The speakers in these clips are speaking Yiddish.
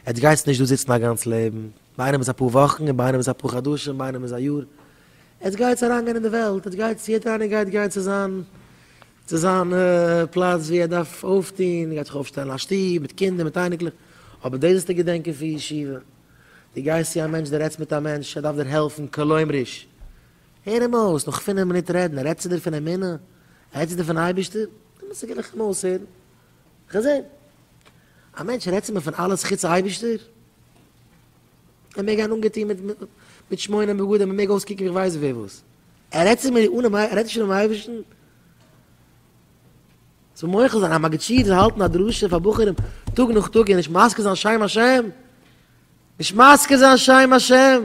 עטס גייטס נישט דא זיצן א גאנץ לעבן, ביי איינעם איז אפאר וואכן, ביי איינעם איז אפאר חדשים, ביי איינעם איז א יאר, עטס גייטס אריינגיין אין די וועלט, עטס גייטס, יעדער איינער גייט גיין צו זיין, צו זיין פלאץ ווי ער דארף אויפטוהן, גייט זיך אויפשטעלן א שטוב מיט קינדער מיט אייניקלעך, אבער דאס זאלסטו געדענקען פון ישיבה, דו גייסט צו א מענטש, דו רעדסט מיט א מענטש, ער דארף דיר העלפן, כלומר'יש, הער אים אויס, נאך פינף מינוט רעדן, רעדט צו דיר פון אמונה? רעדט צו דיר פון אייבערשטער? דעמאלטס גיב איך אים אויסהערן. כ'זעה. א מענטש רעדט צו מיר פון אלעס חוץ אייבישטער? ער מעג גיין אנגעטון מיט שמונה בגדים, ער מעג אויסקוקן ווי כ'ווייס ווער וואס. ער רעדט צו מיר אנעם אייב-, ער רעדט נישט אנעם אייבישטן? זאל מוחל זיין, א מגיד שיעור זאל האלטן א דרשה פאר בחורים טאג נאך טאג און נישט מזכיר זיין שם השם? נישט מזכיר זיין שם השם?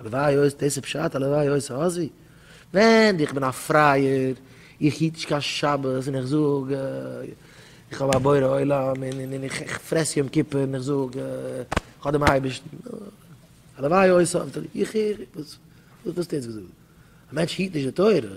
הלוואי אויס דאס איז פשט, הלוואי אויס האזי. ווען איך בין א פרייער, איך היט נישט קיין שבת און איך זאג איך האב א בורא עולם און איך פרעס יום כיפור און איך זאג איך האב דעם אייבערשטן, הלוואי אויס האזי. איך איך וואס וואס האסטו יעצט געזאגט? א מענטש היט נישט די תורה?